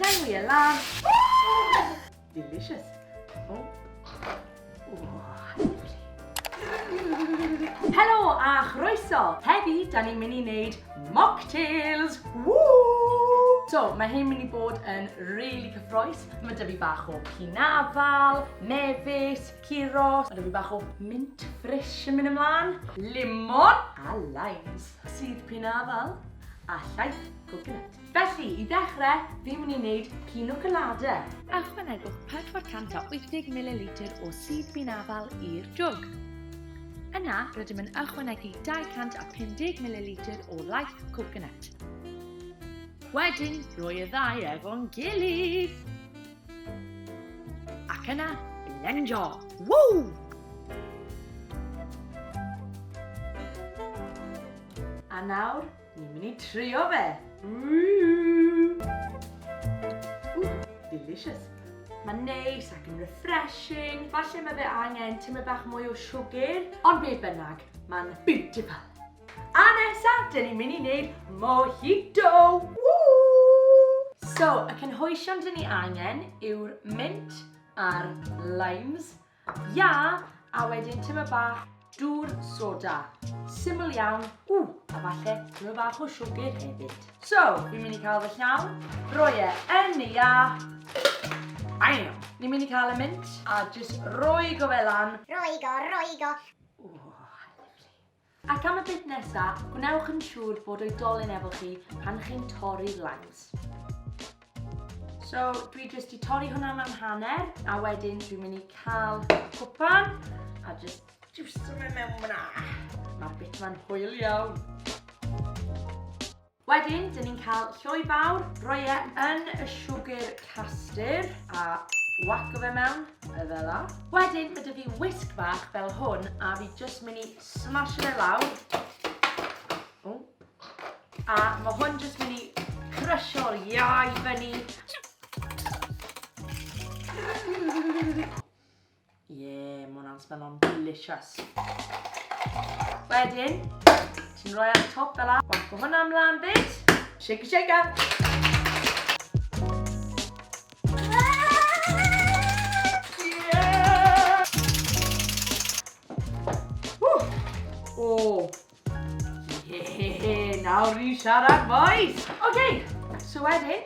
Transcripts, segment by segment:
Llenwi e lan. Delicious. Helo a chroeso! Heddi, da ni'n mynd i wneud mocktails! Woo! So, mae hyn mynd i bod yn really cyffroes. Mae dyfu bach o pinafal, mefus, ciros, mae dyfu bach o mint ffrish yn mynd ymlaen, limon a limes, sydd pinafal a llaeth coconut. Felly, i ddechrau, fi'n mynd i wneud pino colada. Ychwanegwch 480 mililitr o sudd bin afal i'r jwg. Yna, rydym yn ychwanegu 250 mililitr o laeth coconut. Wedyn, rhoi y ddau efo'n gilydd. Ac yna, blendio! Ww! A nawr, Ni'n mynd i trio fe! Delicious! Mae'n neis ac yn refreshing, falle mae fe angen tyma bach mwy o siwgr, ond beth bynnag, mae'n beautiful! A nesaf, dyn ni'n mynd i wneud mojito! So, y cynhwysion dyn ni angen yw'r mint a'r limes, Ia, a wedyn tyma bach dŵr soda. Syml iawn, ww, a falle tyma bach o siwgr hefyd. So, fi'n mynd i cael fy llawn, roi e yn y ia. Aio, ni'n mynd i cael y mint a jyst roi go fe lan. Roi go, roi go. Ac am y beth nesa, gwnewch yn siŵr bod oedolyn efo chi pan chi'n torri'r lines. So, dwi jyst i torri hwnna mewn hanner, a wedyn dwi'n mynd i cael cwpan, a jyst jyst o fe mewn fyna. Mae'r bit ma'n hwyl iawn. Wedyn, dyn ni'n cael lloi fawr, rhoi e yn y siwgr castur a whaco fe mewn, fel la. Wedyn, mae dy fi wisg fach fel hwn a fi jyst mynd i smasho fe lawr. O. A mae hwn jyst mynd i crysio'r iau fyny. Ie, mae hwnna'n smello'n delicious. Wedyn, ti'n rhoi ar y top fel la. Wacko hwnna ymlaen byd. Shake it, shake it. Hehehe, nawr i siarad boys! Ok, so wedyn,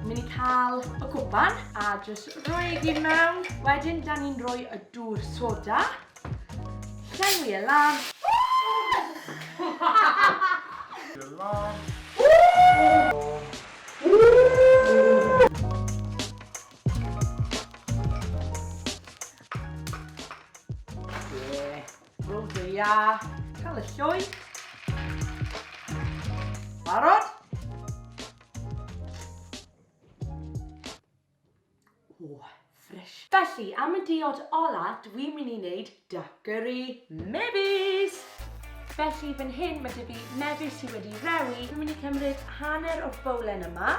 mynd i cael y cwpan a jyst rhoi i gyd mewn. Wedyn, da ni'n rhoi y dŵr soda. Llenwi e lan. Rowdio ia. Cael y lloi. Barod? O, ffres. Felly, am y diod ola, dwi'n mynd i wneud dackery mebus. Felly, fan hyn mae dy fi mebus sydd wedi rewi. Dwi'n mynd i cymryd hanner o'r bowlen yma.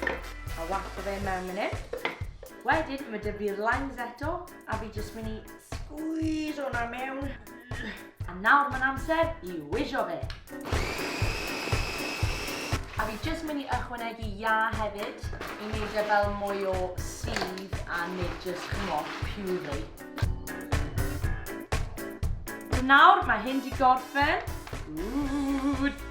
A waco fe mewn fan hyn. Wedyn, mae dy fi'r lines eto. A fi jyst mynd i squeeze hwnna mewn. A nawr mae'n amser i wisio fe. A fi jyst mynd i ychwanegu ia hefyd i wneud e fel mwy o sydd a nid jyst chymod puree. So nawr mae hyn di gorffen. Ooh.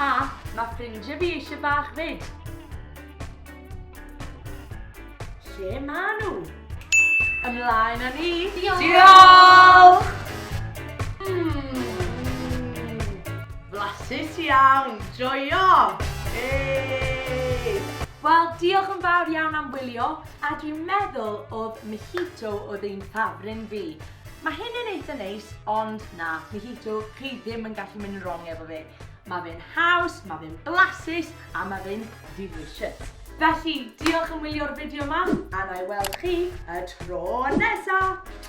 A mae ffrindiau fi eisiau bach fyd. Lle maen nhw? Ymlaen â ni! Diolch! Diolch! Flasus iawn, joio! Hey! Wel, diolch yn fawr iawn am wylio, a dwi'n meddwl oedd mojito oedd ein ffafrin fi. Mae hyn yn eitha neis, ond na, Mojito, chi ddim yn gallu mynd yn wrong efo fe. Mae fe'n haws, mae fe'n blasus, a mae fe'n delicious. Felly, diolch yn wylio'r fideo yma, a na i weld chi y tro nesaf!